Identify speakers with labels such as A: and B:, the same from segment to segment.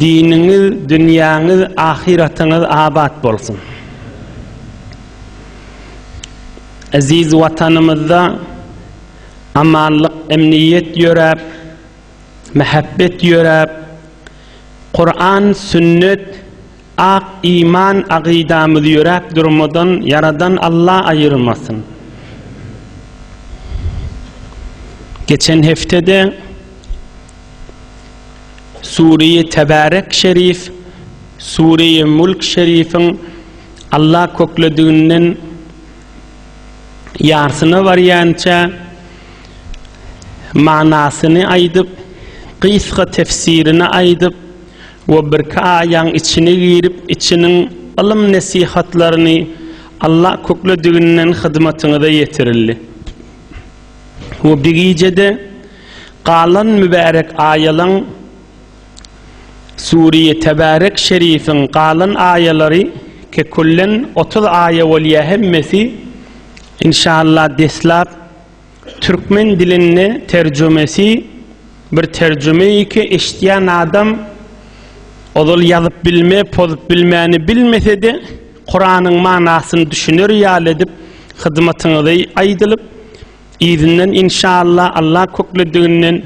A: Diniňiz, dünýäňiz, ahyratyňyz abat bolsun! Eziz Watanymyzda amanlyk, emniýet ýöräp, mähebbet ýöräp, Kuran, Sünnet, ak iman, agydamyz ýöräp durmadan Ýaradan Alla aýyrmasyn! Geçen hepdede. Sureýi Tebarek şerif, Sureýi Mulk şerifiň Allah köklediginden ýarsyna barýança manysyny aýdyp, gysga tefsirini aýdyp we birki aýaň içine girip içiniň ylym-nesihatlaryny Allah köklediginden hyzmatyňyza ýetirildi. We bigijede Galan mübärek aýalaň Suriýe Tebarek Şerifiň galan aýalary kekullen otuz aýa bolýa hemmesi inşallah deslap türkmen dilinde terjumesi bir terjumeiki eşitýän adam ozal ýazyp bilme pozup bilmäni bilmesede Kuranyň manasyny düşüner ýaly edip hyzmatyňyzy aýdylyp Yzyndan inşallah Allah köklediginden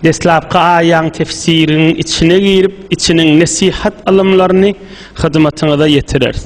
A: deslapky aýaň tefsiriň içine girip içiniň nesihat ylymlaryny hyzmatyňyza ýetireris.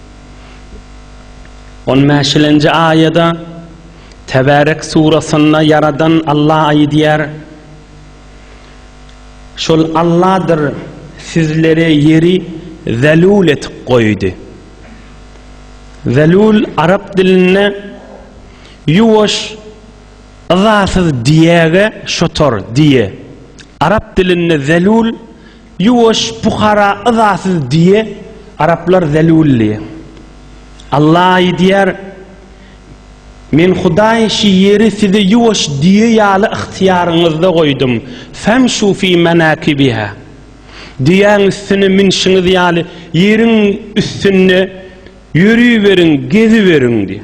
A: On bäşilenji aýada Tebärek surasynda Ýaradan Alla aýdýar, Şol Alladyr sizlere ýeri zelul etip goýdy. Zelul arap dilinde ýuwaş, yzasyz diýäge şotor, diýe. Arap dilinde zelul Ýuwaş pukara yzasyz diýe araplar zelul diýe. Alla aýdýar, Men Hudaý şi ýeri size ýuwaş diýe ýaly ygtyýaryňyzda goýdum, femşu fi menakibiha. Diýäň üstüne minşiňiz ýaly ýeriň üstünde ýörüberiň, geziberiň diýe.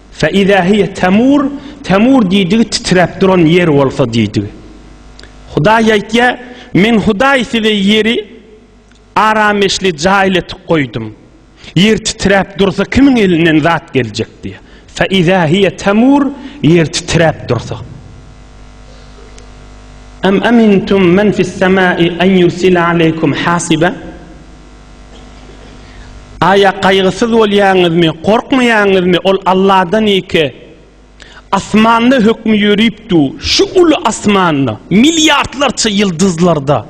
A: Fe iza hiye temur, temur diýdigi titräp duran ýer bolsa diýdigi. Hudaý aýtýar, Men Hudaý size ýeri arameşli jaýly etip goýdum. Ýer titräp dursa kimiň elinden zat geljek diýýär. Fe iza hiye temur, ýer titräp dursa. Em emintum men fis semai en yursila aleykum hasiba. Aýa gaýgysyz bolýaňyzmy, gorkmaýaňyzmy, ol Alladan ýeke. Asmanda hökmi ýörüp dur, şu uly asmanda, milliardlarça ýyldyzlarda,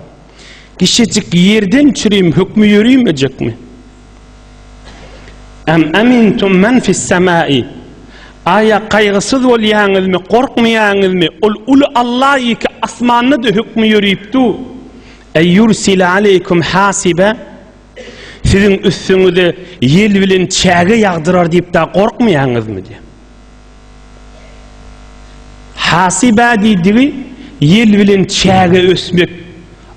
A: kişejik ýerden çürim hökmi ýörüýmejekmi? Em emintum men fis semai. Aýa gaýgysyz bolýaňyzmy, gorkmaýaňyzmy, ol uly Alla ýeke asmanda-da hökmi ýörüp dur. Eý ýursile aleýkum hasibe, siziň üstüňize ýel bilen çäge ýagdyrar diýip da gorkmaýaňyzmy diýýär. Hasibe diýdigi ýel bilen çäge ösmek,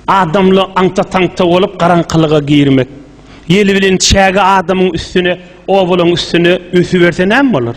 A: adamly aňta-taňta bolup garaňkylyga girmek. Ýel bilen çäge adamyň üstüne, obalaň üstüne ösüberse näme bolar?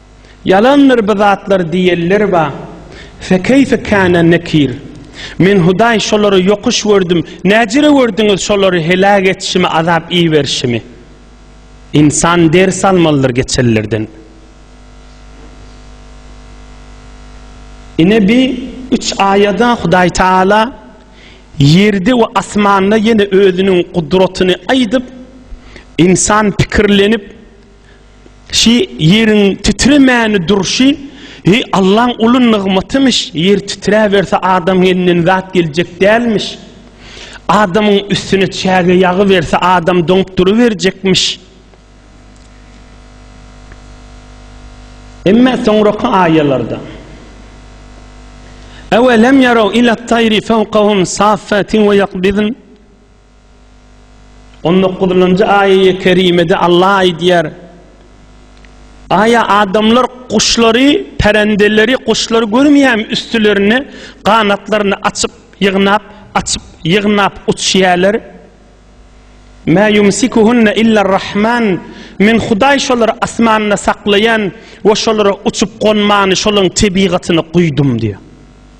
A: Ýalandyr bu zatlar diýenler bar. Fekeýfe kâne nekir. Men Hudaý şolary ýokuş gördüm, näcire gördüňiz şolary heläk etişimi azap iberişimi. Ynsan ders almalydyr geçenlerden. Ine bi üç aýada Hudaý Taala ýerde we asmanda ýene özüniň gudratyny aýdyp, ynsan pikirlenip, Şi ýeriň titremäni durşy, heý Allaň uly nygmatymyş, ýer titräberse adamyň elinden zat geljek dälmiş. Adamyň üstüne çäge ýagy berse adam doňup duruberjekmiş. Emme soňraky aýalarda Ewe lem ýaraw ila taýri fawqahum saffatin we ýakbidin On dokuzynjy aýaýe kerimede Allah aýdýar, Aýa adamlar guşlary, pärendeleri, guşlary görmeýärmi üstülerine ganatlaryny açyp, ýygnap, açyp, ýygnap uçýärler? Mä ýumsikuhunne iller rahman, Men Hudaý şolary asmanda saklaýan we şolara uçup gonmany şolaryň tebigatyna guýdum diýýär.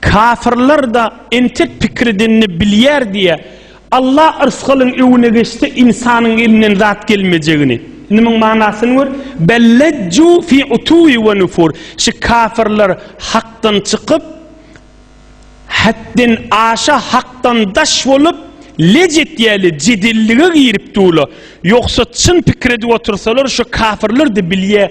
A: Kafirler-de entek pikir edenini bilýär diýýä, Alla yrsgalyň öwüne geçse ynsanyň elinden zat gelmejegini. Indi muň manasyny gör, Bel lejju fi utuwi we nufur, şu kafirler hakdan çykyp, hetden aşa hakdan daş bolup, lej etýäle, jedellige girip dula. Ýogsa çyn pikir edip otursalar şu kafirler-de bilýä,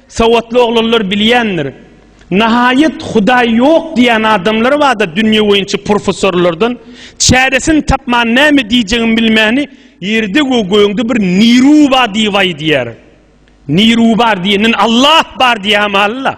A: Sowatly oglanlar bilýändir. Nahaýat Hudaý ýok diýýän adamlar barda dünýe boýunça professorlardan, çäresini tapman näme diýjegini bilmäni ýerde we gögde bir niruba diýip aýdýar. Nirubar diýenden Allah bar diýämalyla.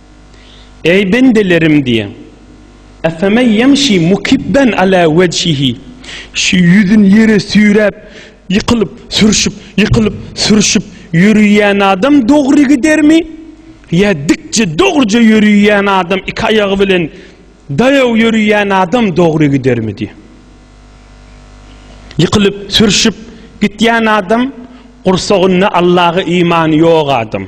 A: Eý bendelerim diýen. Efemen ýemşi mukibben ala wejhihi. Şu ýüzüni ýere süýräp, ýykylyp, sürşüp, ýykylyp, sürşüp ýöriýän adam dogry gidermi? Ýa dikje, dogruja ýöriýän adam iki aýagy bilen daýaw ýöriýän adam dogry gidermi diýen. Ýykylyp, sürşüp gitýän adam gursagynda Allaha imany ýok adam.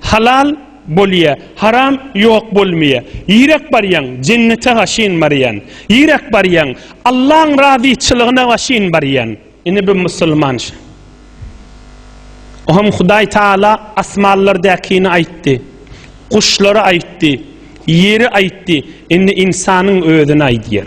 A: Halal, bolýa, haram, ýok, bolmaýa. Ýerek barýaň, jennete gaşyn barýan. Ýerek barýaň, Allaň razyçylygyna gaşyn barýan. Ine bu musulmança. Ohem Hudaý Taala asmanlardäkini aýtdy, guşlary aýtdy, ýeri aýtdy, indi ynsanyň özüni aýdýar.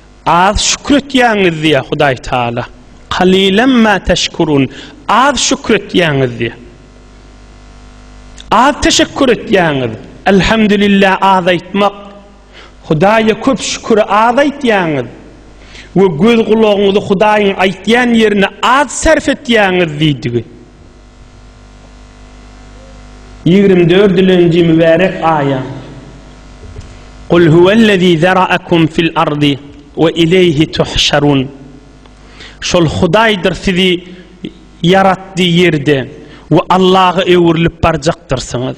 A: Az şükür etýäňiz diýýär Hudaý Taala. Kalilan ma teşkurun. Az şükür etýäňiz diýýär. Az teşekkür etýäňiz. Elhamdülillah az aýtmak. Hudaýa köp şüküri az aýtýaňyz we göz gulagyňyzy Hudaýyň aýtýan ýerine az sarf etýäňiz diýdigi. Ýigrimi dördülenji mübärek aýa, Kul huwellezî zera'akum fil ardy we ileýhi tuhşarun. Şol Hudaýdyr sizi ýaratdy ýerde we Allaha öwrülip barjakdyrsyňyz.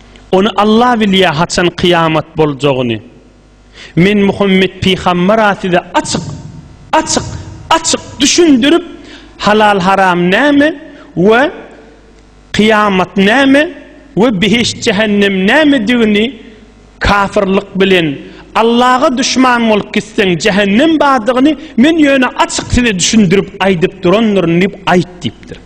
A: Ony Allah bilýär haçan kyýamat boljagyny. Men Muhammet pygambera size açyk, açyk, açyk düşündirip halal haram näme we kyýamat näme we behişt jähennem nämedigini kafirlik bilen Allaha düşman bolup gitseň jähennem bardygyny men ýöne açyk size düşündirip aýdyp durandyryn diýip aýt diýipdir.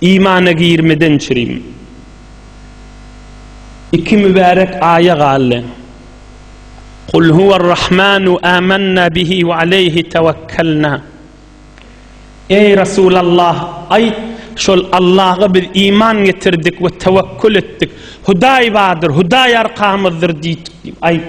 A: Imana girmeden çirim. Iki mübärek aýa galdy. Kul huwer rahmanu amanna bihi we aleyhi tawakkalna. Eý Resulallah, aýt, şol Allaha biz iman getirdik we tewekkül etdik. Hudaý bardyr, Hudaý arkamyzdyr diýdik diýip aýt.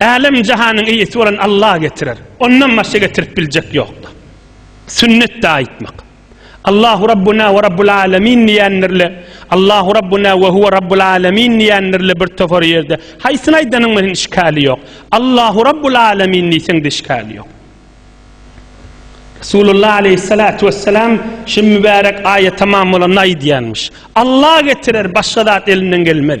A: Älem-jahanyň eýesi bolan Allah getirer. Ondan başga getirip biljek ýokdur. Sünnet dagy aýtmak. Allahu Rabbuna we Rabbul Alamin diýenlerle, Allahu Rabbuna we huwa Rabbul Alamin diýenlerle bir topar ýerde. Haýsyny aýdanyň bilen işgäli ýok. Allahu Rabbul Alamin diýseň işgäli ýok. Resulullah aleyhissalatu vesselam şu mübarek aýat tamam bolanda aýdýarmyş. Allah getirer, başga zat elinden gelmez.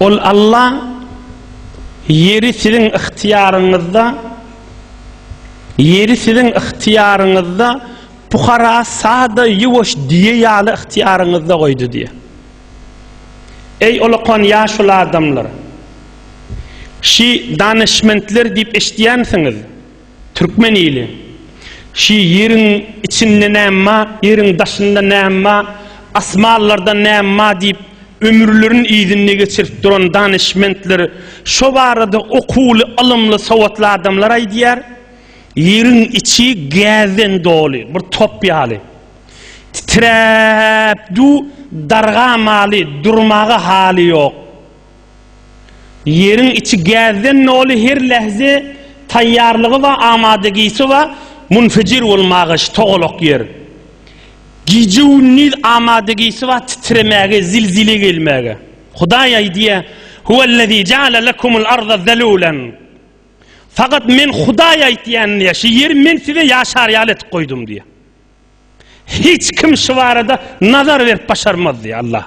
A: Ol Alla ýeri siziň ygtyýaryňyzda ýeri siziň ygtyýaryňyzda pukara sada ýuwaş diýe ýaly ygtyýaryňyzda goýdy diýýär. Eý olakan ýaşuly adamlar! Şi danyşmentler diýip eşitýänsiňiz. Türkmen ili. Şi ýeriň içinde näme ba, ýeriň daşynda näme ba, asmanlarda näme ba diýip ömürlerini yzynda geçirip duran danyşmentler, şo barada okuwly, ylymly, sowatly adamlar aýdýar. Ýeriň içi gäzden doly, bir top ýaly. Titräp du, dargamaly, durmaga haly ýok. Ýeriň içi gäzden doly her lähze taýýarlygy we amadagisi we munfejir bolmaga şu togalak ýer. Gije gündiz amadagisi we titremäge zilzile gelmäge. Hudaý aýdýa, Huwellezî jaale lekumul arda zelulen. Fakat men Hudaý aýtýan diýýä, şu ýeri men size ýaşar ýaly etip goýdum diýýä. Hiç kim şu barada nazar berip başarmaz diýýär Allah.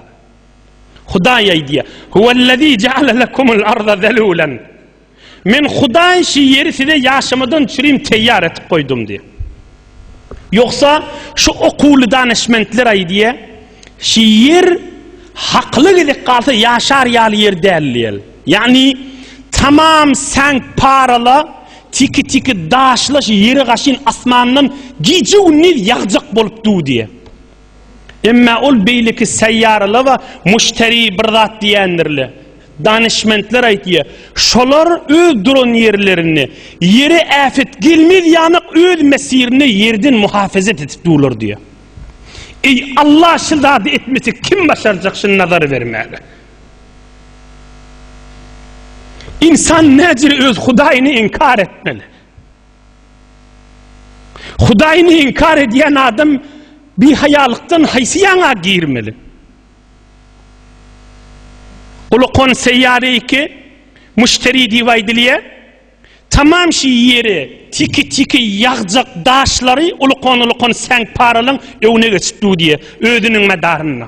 A: Hudaý aýdýar: "Huwellezî jaale lekumul arda zelûlen." Men Hudaý şu ýeri size ýaşamadan çürim teýýar etip goýdum diýýär. Ýogsa şu okuwly danyşmentler aýdýar, şu ýer hakyla gezek galsa ýaşar ýaly ýer däl diýýär. Ýagny tamam säňk parala Tiki-tiki daşlaş ýere gaşyn asmandan gije-gündiz ýagjak bolup dudy. Emma ol beýleki seýýaralaba muşteri bir zat diýendirle. Danyşmentler aýtýa, şolar öz duran ýerlerinde ýere äfet gelmez ýamak öz mesirinde ýerden muhafezet edip durlar diýýa. Eý, Alla şy zady etmesek kim başarjak şy nazar bermäge? Insan näcir öz Hudaýyny inkar etmeli? Hudaýyny inkar edýän adam bihaýalykdan haýsy ýaňa girmeli? Ulukon seýýary iki, müşteri diýip aýdylýar. Tamam şu ýeri tiki-tiki ýagjak daşlary ulukon-ulukon säňparalyň öňüne geçip dur diýýär, özüniň medarynda.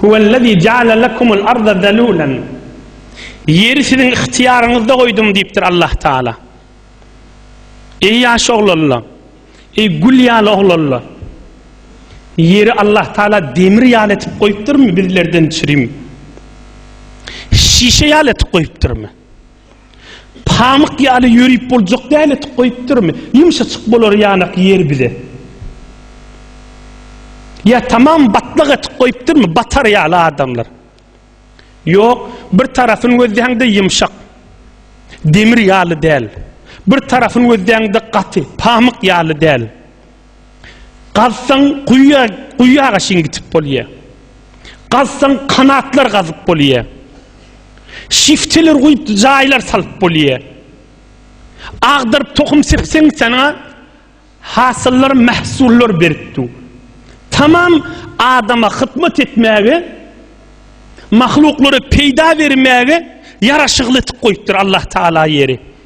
A: Huwellezî jaale lekumul arda zelûlen. Ýeri siziň ygtyýaryňyzda goýdum diýipdir Allah Taala. Eý ýaş oglanlar, eý gül ýaly oglanlar! Ýeri Allah Taala demir ýaly etip goýupdyrmy bizlerden çirim? Şişe ýaly etip goýupdyrmy? Pamyk ýaly ýörüp boljak däl etik goýupdyrmy? Ýumşaçyk bolar ýanak ýer bize. Ýa tamam batlak etik goýupdyrmy? Batar ýaly adamlar. Ýok, bir tarapyny gözläňde ýumşak. Demir ýaly däl. Bir tarapyny gözläňde gaty, pamyk ýaly däl. Gazsaň guýa guýaga çyn gitip bolýa. Gazsaň kanatlar gazyp bolýa. Şifteler guýup jaýlar salyp bolýa. Agdyryp tohum sepseň sana hasyllar mahsullar berip dur. Tamam adama hyzmat etmäge mahluklara peýda bermäge ýaraşykly etip goýupdyr Allah Taala ýeri.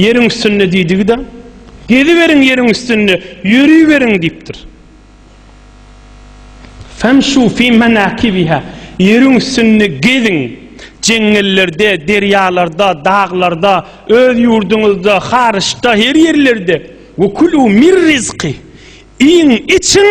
A: Ýeriň üstünde diýdigi-de, Geziberiň ýeriň üstünde, ýörüberiň diýipdir. Femşu fi menakibiha, ýeriň üstünde geziň, jeňňellerde, derýalarda, daglarda, öz ýurduňyzda, haryçda, her ýerlerde. Wekulu mir rizki, iýiň, içiň.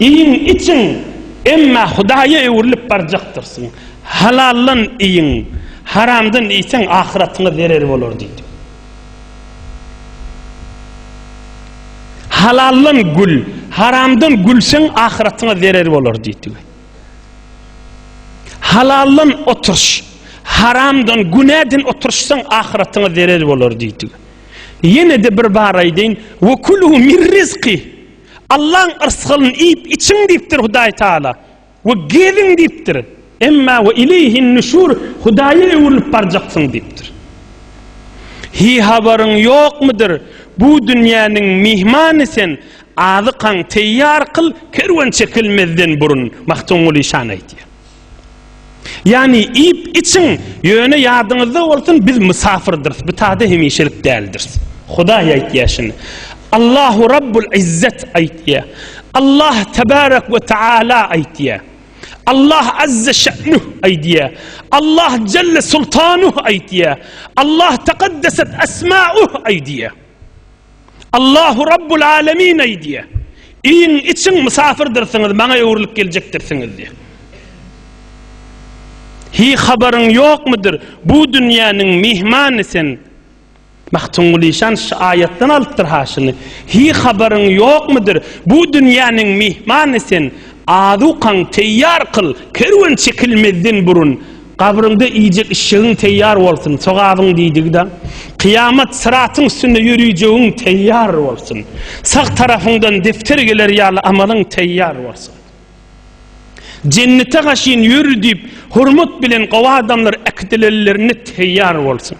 A: Iýiň, içiň, emma Hudaýa öwrülip barjakdyrsyň. Halaldan iýiň, haramdan iýseň, ahyratyňa zerer bolar diýdi. Halaldan gül, haramdan gülseň, ahyratyňa zerer bolar diýdi. Halaldan oturyş, haramdan, günäden oturyşsaň, ahyratyňa zerer bolar diýdi. Ýene-de bir bar aýdaýyn, Ve kulu mir rizki, Allaň yrsgyn iýip içiň diýipdir Hudaý Taala, we geziň diýipdir, emma ve ileýhin nüşur, Hudaýa öwrülip barjaksyň diýipdir. Hi habaryň ýokmydyr, bu dünýäniň myhmany sen, azykaň teýýar kyl, kerwen çekilmezden burun, Magtymguly şany aýdýar. Ýagny, iýip, içiň, ýöne ýadyňyzda bolsun, biz mysafyrdyrys, bitada hemişelik däldiris. Hudaý aýtýar şuny. Allahu Rabbul Izzet aýtýar. Allah Tebarek we Teala aýtýar. Allah Azze Şe'nuh aýtýar. Allah Celle Sultanuh aýtýar. Allah Tekaddeset Esma'uh aýtýar. Allahu Rabbul Alemin aýdýar. Iýiň, içiň, mysafyrdyrsňyz, maňa öwrülip geljekdirsiňiz diýýär. Hi habaryň ýokmudyr, bu dünýäniň myhmany sen. Magtymguly şan şu aýatdan alypdyr haşyny. Hi habaryň ýokmudyr, bu dünýäniň myhmany sen. Azukaň teýýar kyl, kerwen çekilmezden burun. Gabryňda iýjek işşegiň teýýar bolsun, sogabyň diýdigi-de, Kyýamat syratyň üstünde ýörijegiň teýýar bolsun, sag tarapyňdan depder geler ýaly amalyň teýýar bolsun. Jennete gaşyn ýör diýip, hormat bilen gowy adamlar äkidilenlerinde teýýar bolsun.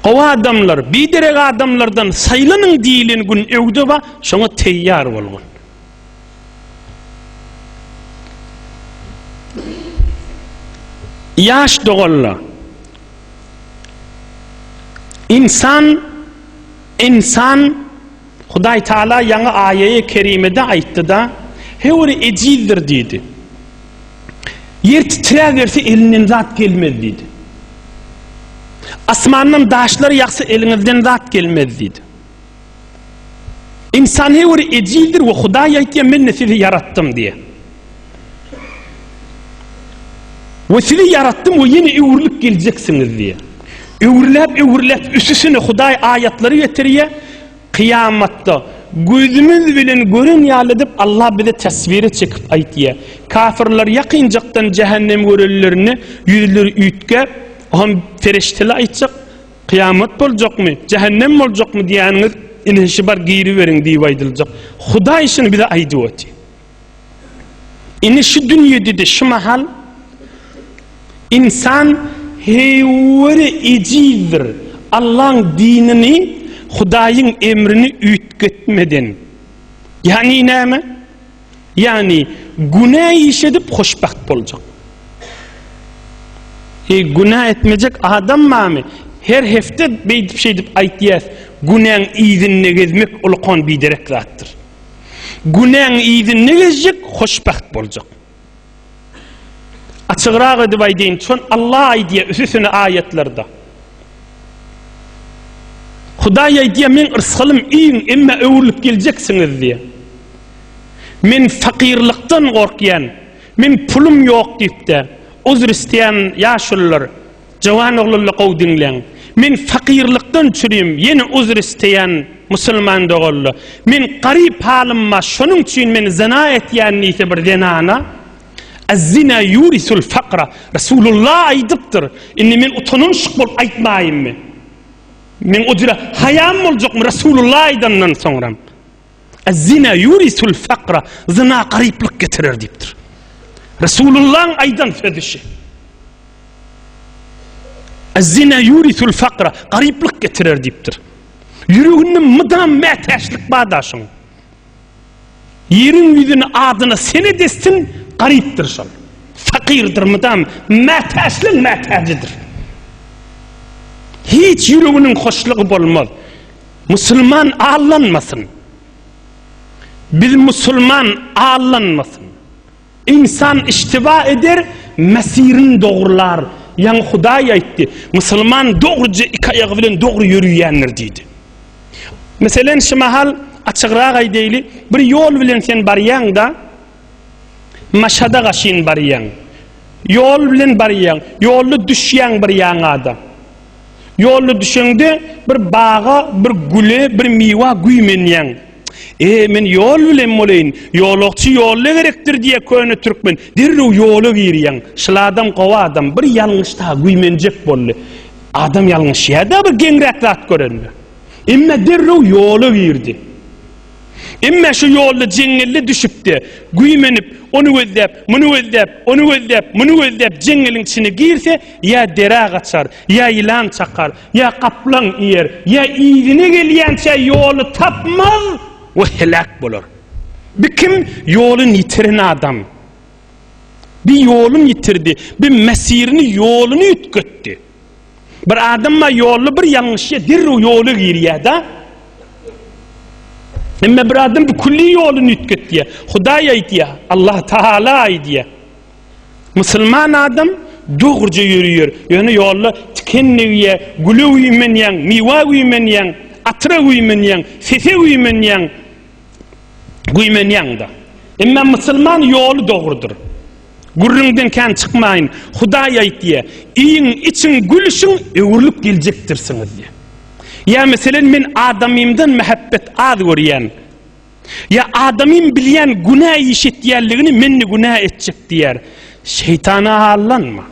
A: Gowy adamlar, biderek adamlardan saýlanyň diýilen gün öwde bar, şoňa teýýar bolgun. Ýaş doganla. Ynsan ynsan Hudaý Taala ýaňy aýaýe kerimede aýtdyda, Höwri ejizdir diýdi. Ýer titräberse elinden zat gelmez diýdi. Asmandan daşlar ýagsa eliňizden zat gelmez diýdi. Insan her bir ejizdir we Hudaý aýtýar, Men-de sizi ýaratdym diýýär. We sizi ýaratdym we ýene öwrülip geljeksiňiz diýýär. Öwrüläp, öwrüläp üstüsine Hudaý aýatlary getirýär. Kyýamatda gözümiz bilen gören ýaly edip Allah bize teswire çekip aýtýar. Kafirler ýakynjakdan jähennem görenlerinde ýüzleri üýtgäp, hem ferişdeler aýtjak, Kyýamat boljakmy, jähennem boljakmy diýýäniňiz, ine şi bar giriberiň diýip aýdyljak. Hudaý şuny bize aýdyp otyr. Ine şu dünýede-de şu mahal insan heýweri ejizdir. Allaň dinini, Hudaýyň emrini üýtgetmeden. Ýagny näme? Ýagny günä iş edip hoşbagt boljak. E günä etmejek adam barmy? Her hepde beýdip şeýdip aýtýas, günäň yzynda gezmek ulkan biderek zatdyr. Günäň yzynda gezjek hoşbagt boljak. Açygrak edip aýdyn, şon Allah aýdýa üsüsini aýatlarda. Hudaý aýdýa men rysgalym iýiň emma öwrülip geljeksiňiz diýe. Men fakirlikden gorkýan, men pulum ýok diýip de, uzr isteýän ýaşulylar. Jowan oglanlar gowy diňleň. Men fakyrlykdan çürüýüm, ýene uzr isteýän musulman doganlar. Men garyp halymma şonuň üçin men zyna etýän diýse bir zenana, Azzina ýurisul fakra, Resulullah aýdypdyr. Indi men utanynşyk bolup aýtmaýynmy? Meň o jüre haýam boljakmy Resulullah aýdandan soňram? Ez-zina yurisul fakra, zyna garyplyk getirer diýipdir. Resulullahyň aýdan sözi şu. Ez-zina yurisul fakra, garyplyk getirer diýipdir. Ýüreginde mydam mätäçlik bar daşyň. Ýeriň ýüzüni adyna sene dessin, garypdyr şol. Fakirdir mydam, mätäçlik mätäjidir. Hiç ýüreginiň hoşlugy bolmaz. Musulman allanmasyn. Biz musulman allanmasyn. Insan iştiba eder, mesirin dogrular. Ýaňy Hudaý aýtdy, musulman dogruja iki aýagy bilen dogry ýöriýändir diýdi. Meselen, şu mahal açygrak aýdaýly, bir ýol bilen sen barýaň-da, maşada gaşyn barýaň. Ýol bilen barýaň, ýolda düşýäň bir ýaňa-da. Ýolda düşeňde, bir baga, bir güle, bir miwa güýmenýäň. E, men ýol bilen boleýin, ýolagçy ýolda gerekdir diýýä köne türkmen. Derrew ýola girýäň. Şul adam gowy adam, bir ýalňyşda güýmenjek boldy. Adam ýalňyşýa-da bir geňräk zat görende. Emma derrew ýola girdi. Emma şu ýolda jeňňelle düşüp-de, güýmenip, ony gözläp, muny gözläp, ony gözläp, muny gözläp jeňňeliň içine girse, ýa derä gaçar, ýa ýylan çakar, ýa gaplaň iýer, ýa yzyna gelýänçä ýoly tapmaz we heläk bolar. Bi kim? Ýolun ýitiren adam. Bi ýolun ýitirdi, bi mesirini, ýoluny üýtgetdi. Bir adamma ýolly bir ýalňyşja derrew ýola girýär-da. Emma bir adam bu külli ýoluny üýtgetýär. Hudaý aýdýar, Allah Taala aýdýar. Musulman adam dogruja ýörýär. Ýöne ýolda tikenligiýär, güle güýmenýär, miwa güýmenýär, atyra güýmenýär, sese güýmenýär. Güýmenýär-de. Emma musulman ýoly dogrudyr. Gürrüňden kän çykmaýyn, Hudaý aýtýa, iýiň, içiň, gülüşiň, öwrülip geljekdirsiňiz diýýä. Ýa meselen men adamymdan mähebbet az görýän. Ýa adamym bilýän günä iş etýänligini men-de günä etjek diýýär. Şeýtana aldanma.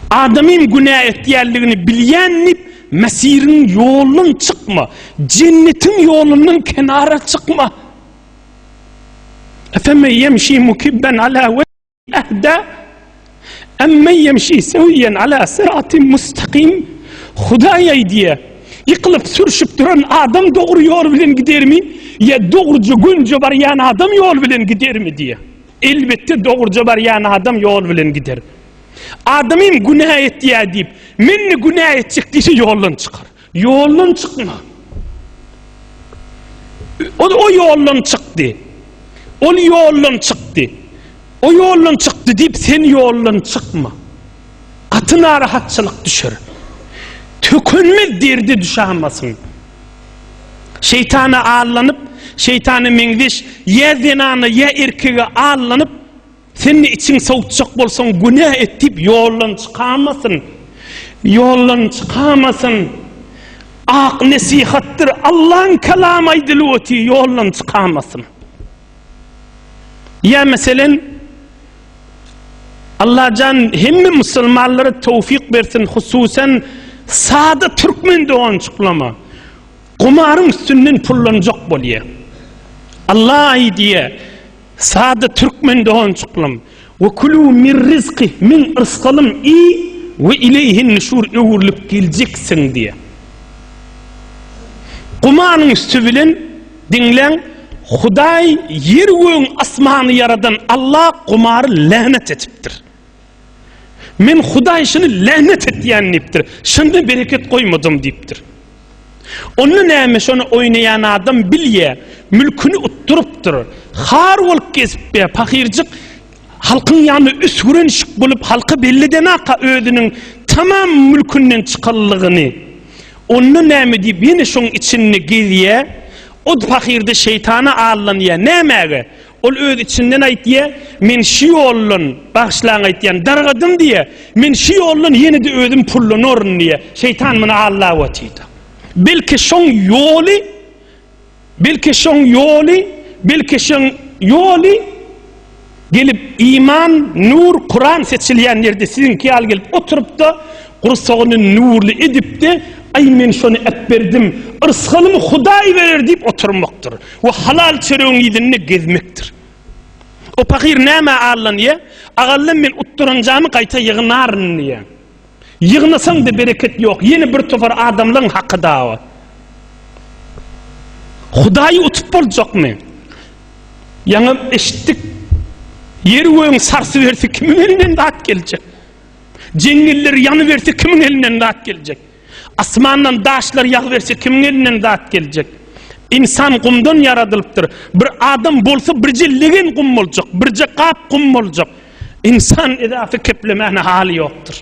A: Adamym günä etýänligini bilýän diýip Mesiriň ýolundan çykma, jennetiň ýolundan kenara çykma. Efemme yemşi mukibben ala ve ehda emme yemşi seviyen ala sıratim mustakim Hudaýa diýe ýykylyp sürşüp duran adam dogry ýol bilen gidermi ýa dogruja gönje barýan adam ýol bilen gidermi diýe elbetde dogruja barýan adam ýol bilen gider adamym günä etýä diýip men günä etjek diýse ýoldan çykar Ýoldan çykma. Ol o ýoldan çykdy. Ol ýoldan çykdy. O ýoldan çykdy diýip, sen ýoldan çykma. Gaty narahatçylyk düşer. Tökünmez derdi düşämasyn. Şeýtana allanyp, şeýtana meňzeş ýa zenana ýa erkege allanyp, Sen-de içiň sowutjak bolsaň, günä et diýip, ýoldan çykamasyn. Ýoldan çykamasyn. Ak nesihatdyr. Allaň kalamy aýdylyp otyr, ýoldan çykamasyn. Ýa meselen, Allajan hemme musulmanlara towfyk bersin, hususan sada türkmen dogançyklama. Gumaryň üstünden pullanjak bolýar. Allah aýdýar, Sada türkmen doganjyklarym, we kulû mir rizqi, min yrsgalym iý we ileýhin nüşur öwrülip geljeksiň diýýär. Gumanyň üsti bilen diňläň, Hudaý ýer-gögüň asmany ýaradan Alla gumary länet etipdir. Men Hudaý şuny länet etýän diýipdir. Şunda bereket goýmadym diýipdir. Onda näme şony oýnaýan adam bilýä, mülküni utdurypdyr. Har bolup gezip be, pahyrjyk halkyň ýanyna üsgüren şik bolup halka belledenaka özüniň tamam mülkünden çykanlygyny. Onda näme diýip ýene şoň içinde gezýä. O pahyrda şeýtana allanýa. Nämäge? Ol öz içinden aýtýa, Men şu ýoldan, bagyşlaň aýtýan, dargadym diýe, men şu ýoldan ýene-de özüm pullanaryn diýe, şeýtan muny allap otyrda. Belki şoň ýoly, belki şoň ýoly, belki şoň ýoly gelip iman, nur, Kuran seçilýän ýerde siziňki ýaly gelip oturypda, Gursagyny nurly edip-de, Aý, men şony äpberdim, yrsgalymy Hudaý berer diýip oturmakdyr we halal çöregiň yzynda gezmekdir. O pahyr nämä allanýar? Agallam men utduranjamy gaýta ýygnaryn diýýär. Ýygnasaň-da bereket ýok, ýene bir topar adamlaryň haky dawa. Hudaýy utup boljakmy? Ýaňam eşitdik, Ýer-gögüň sarsy-bersi kimiň elinden dat geljek? Jeňňeller ýanyberse kimiň elinden zat geljek? Asmandan daşlar ýagyberse kimiň elinden zat geljek? Ynsan gumdan ýaradylypdyr. Bir adam bolsa birje legen gum boljak, birje gap gum boljak. Ynsan edaty keplemäne haly ýokdur.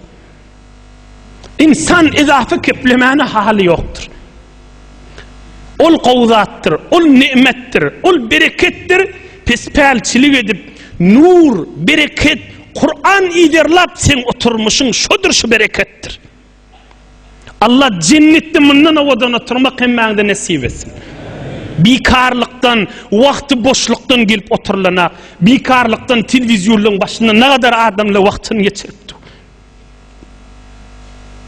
A: Ynsan edaty keplemäne haly ýokdur. Ol gowy zatdyr, ol ne'metdir, ol bereketdir, pespälçilik edip, nur, bereket, Kur'an yzarlap seň oturmuşyň şodur şu bereketdir. Allah jennetde mundan owadan oturmak hemmäňde nesip etsin. Bikarlykdan, wagty boşlukdan gelip oturlana, bikarlykdan telewizýonlaryň başynda nagadar adamlar wagtyny geçiripdi.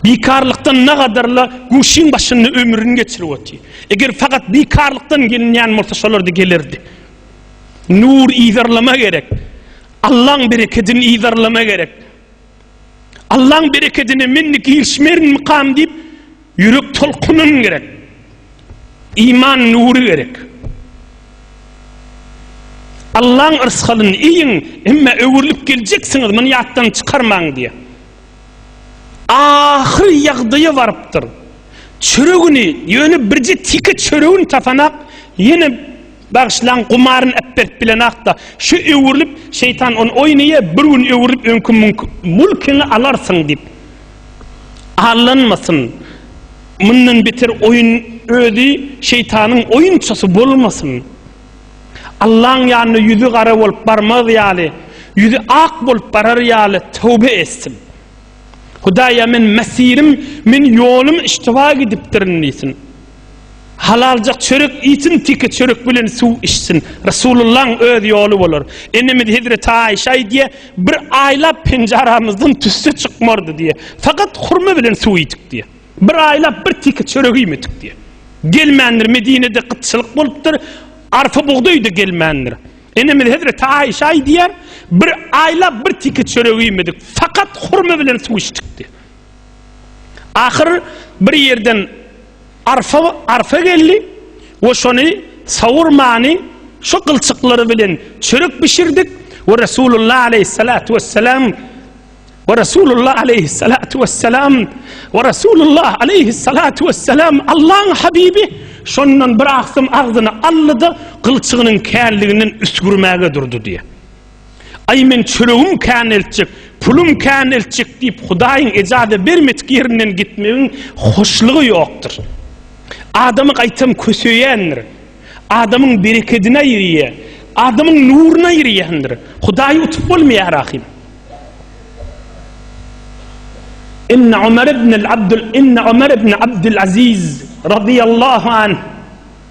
A: Bikarlykdan nagadarla guşyň başynda ömrüni geçirip otyr. Eger fakat bikarlykdan gelinýän bolsa şolarda gelerdi. Nur ýzarlama gerek. Allaň berekedini ýzarlama gerek. Allaň berekedini men girişmerin mykam diýip Ýürek tolkunyn gerek. Iman nury gerek. Allaň yrsgalyny iýiň, emma öwrülip geljeksiňiz, muny ýatdan çykarmaň diýýär. Ahyr ýagdaýa barypdyr. Çöregini, ýöne birje tike çöregini tapanak, ýene. Bagyşlaň, gumaryny äpberip bilenakda, şu öwrülip, şeýtan ony oýnaýa, bir gün öwrülip öňki müňki mülkiňi alarsyň diýip. Allanmasyn. Mundan beter oýun özi şeýtanyň oýunçasy bolmasyn. Allaň ýanyna ýüzi gara bolup barmaz ýaly, ýüzi ak bolup barar ýaly töwbe etsin. Hudaýa men mesirim, men ýolum iştiba gidipdirin diýsin. Halaljak çörek iýsin teke çörek bilen suw içsin. Resulullaň öz ýoly bolar. Enemiz hezreti Aişe aýdýar, bir aýlap penjaramyzdan tüsse çykmardy diýýär. Fakat hurma bilen suw iýdik diýýär. Bir aýlap bir teke çörek iýmedik diýýär. Gelmändir Medinede gytçylyk bolupdyr. Arpa bugdaýda gelmändir. Enemiz hezreti Aişe aýdýar, bir aýlap bir teke çörek iýmedik. Fakat hurma bilen suw içdik diýýär. Ahyr bir ýerden arfa arfa geldi we şony sawurmany şu gylçyklary bilen çörek bişirdik we Resulullah aleýhissalatu wessalam we Resulullah aleýhissalatu wessalam we Resulullah aleýhissalatu wessalam Allaň habibi şondan bir agsym agzyny aldy-da gylçygynyň känliginden üsgürmäge durdy diýýär. Aý meň çöregim kän eltjek, pulum kän eltjek diýip Hudaýyň ejada bermedik ýerinden gitmegiň hoşlugy ýokdur. Adamy gaýtam köseýändir. Adamyň berekedine ýyrýar. Adamyň nuruna ýyrýandyr. Hudaýy utup bolmaýar ahym. Inne Ömer ibn Abdul Inne Ömer ibn Abdul Aziz radiyallahu anh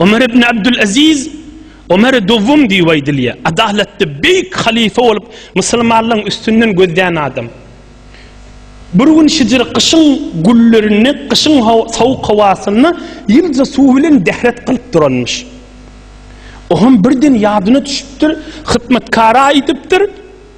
A: Ömer ibn Abdülaziz, Ömer-i Dowwum diýip aýdylýar. Adalatly, beýik halyfa bolup, musulmanlaryň üstünden gözlän adam. Bir gün şijir gyşyň güllerinde, gyşyň sowuk howasynda ýylja suw bilen dehret kylyp duranmyş. Oňam birden ýadyna düşüpdir, hyzmatkara aýdypdyr,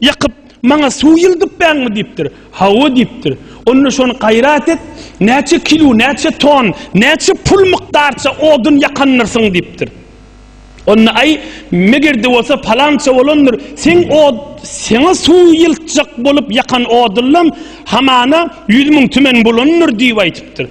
A: Ýakyp, Maňa suw ýyldypbäňmi? diýipdir. Hawa diýipdir. Onda şony gaýrat et, näçe kilo, näçe ton, näçe pul mukdarça odun ýakandyrsyň diýipdir. Onda Aý, meger-de bolsa palança bolandyr, seň od, seňe suw ýyltjak bolup ýakan odunlam hamana ýüz müň tümen bolandyr diýip aýdypdyr.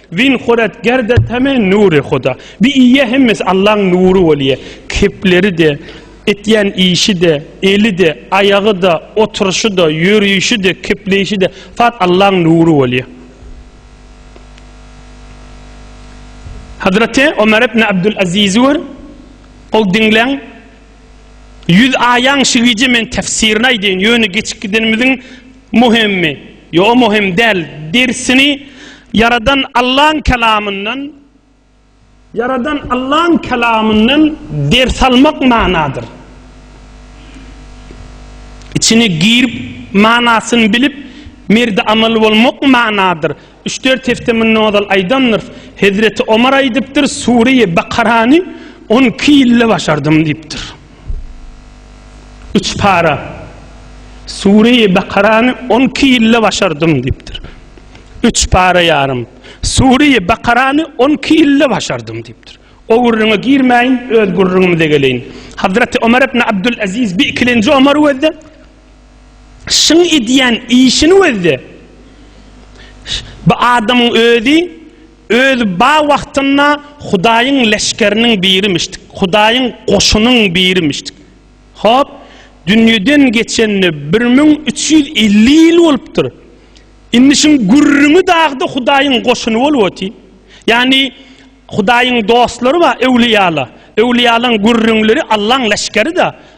A: Win Huret Gerde Tame Nure Huda. Bi iýe hemmesi Allaň nury bolýa. Kepleri-de, etýän işi-de, eli-de, aýagy-da, oturyşy-da, ýörişi-de, kepleýşi-de fat Allaň nury bolýa. Hazreti Omer ibn Abdul Azizi gör. Ol diňläň. Ýüz aýaň şu gije men tefsirini aýdýan. Ýöne geçip gidenimiziň Muhimmi, ýo muhim däl dersini Ýaradan Allaň kelamyndan Ýaradan Allaň kelamyndan ders almak manadyr. Içine girip manasyny bilip merdi amaly bolmak manadyr. Üç-dört hepde mundan ozal aýdamdyrys. Hezreti Omar aýdypdyr, Sure-i Bakarany on iki ýylda başardym diýipdir. Üç para Sure-i Bakarany on iki ýylda başardym diýipdir. Üç para ýarym Sure-i Bakarany on iki ýylda başardym diýipdir. O gürrüňe girmäýin, öz gürrüňimize geleýin. Hazreti Ömer ibn Abdülaziz bi ikilenji Ömer wezde şyň edýän işini wezde bu adamyň özi Özi ba wagtynda Hudaýyň leşgeriniň birimişdik, Hudaýyň goşunyň birimişdik. Hop, dünýeden geçenine bir müň üç ýüz elli ýyl bolupdyr. Indi şuň gürrüňi dagda Hudaýyň goşuny bolup otyr. Ýagny, Hudaýyň dostlary bar, öwlüýalar. Öwlüýalaryň gürrüňleri Allaň leşgeri-dä.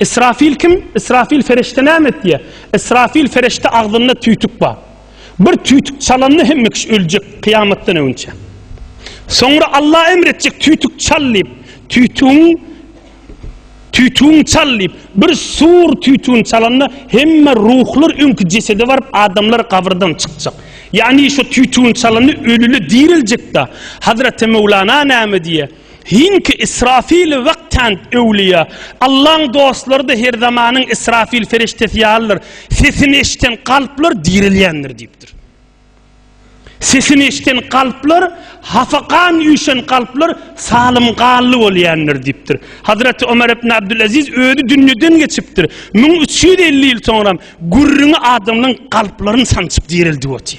A: Ysrafyl kim? Ysrafyl ferişde näme etýär? Ysrafyl ferişde agzynda tüýtük bar. Bir tüýtük çalanda hemme kişi öljek kyýamatdan öňinçä. Soňra Allah emr etjek tüýtük çal diýip, tüýtügiň tüýtügiň çal diýip, bir sur tüýtügini çalanda hemme ruhlar öňki jesede baryp adamlar gabyrdan çykjak. Ýagny şu tüýtügini çalanda ölüli diriljek-de. Hazreti Mevlana näme diýýär? Hinki Israfili wagtjant öwlüýä. Allaň dostlary-da her zamanyň Israfil ferişdesi ýalydyr. Sesini eşden kalplar direlýändir diýipdir. Sesini eşden kalplar, hafakan üýşen kalplar salym gally bolýändir diýipdir. Hazreti Ömer ibn Abdülaziz özi dünýeden geçipdir. Müň üç ýüz elli ýyl soňram gürrüňi adamlaň kalplaryny sançyp direldi otyr.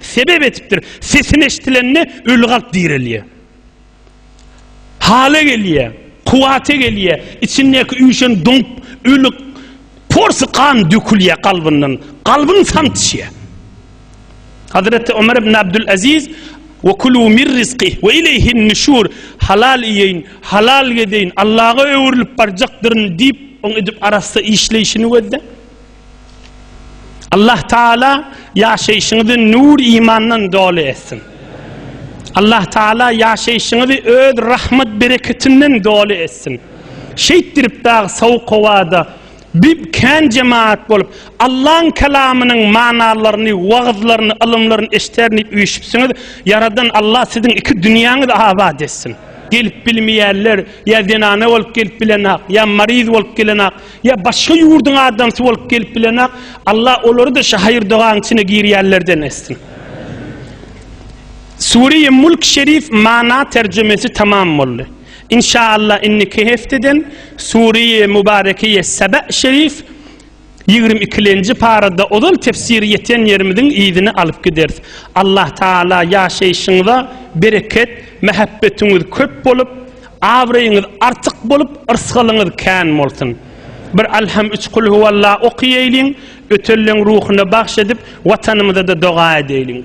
A: Sebäp etipdir. Sesini eşdilende öli kalp direlýär. Hala gelýär, kuwwata gelýär, içindäki üýşen doňup öli porsy gan dökülýär kalbyndan, kalbyň samsyşýar. Hazreti Ömer ibn Abdülaziz Ve kulu mir rizqi ve ileyhin nüşur halal iýeýin, halal gezeýin, Allaha öwrülip barjakdyryn diýip, oň edip arassa işleýşini gözle. Allah Taala ýaşaýşyňyzy nur imandan doly etsin. Allah Taala ýaşaýşyňyzy öz rahmet bereketinden doly etsin. Şeýt dirip dag sowuk howada bir kän jemaat bolup Allah'ın kelamynyň manalarını, wagzlaryny, ylymlaryny eşder diýip üýşüpsiňiz. Yaradan Allah sizin iki dünýäňizi abat etsin. Gelip bilmeýärler, ýa zenana bolup gelip bilenok, ýa mariz bolup gelenak. Ýa başga ýurduň adamsy bolup gelip bilenok. Alla olary-da şu haýyr dogaň içine girýänlerden etsin. Sure-i Mulk Şerif mana terjimesi tamam boldy. İnşallah indiki hefteden Sure-i Mubarekiye Sebe Şerif 22-nji parada ozal tefsiri ýeten ýerimiziň yzyny alyp gideris. Allah Taala ýaşaýşyňyza bereket, mähebbetiňiz köp bolup, Abraýyňyz artyk bolup, yrsgalyňyz kän bolsun. Bir Alham üç Kul huwalla okyýeýliň, ötelleň ruhuna bagş edip, Watanymyza-da doga edeýliň.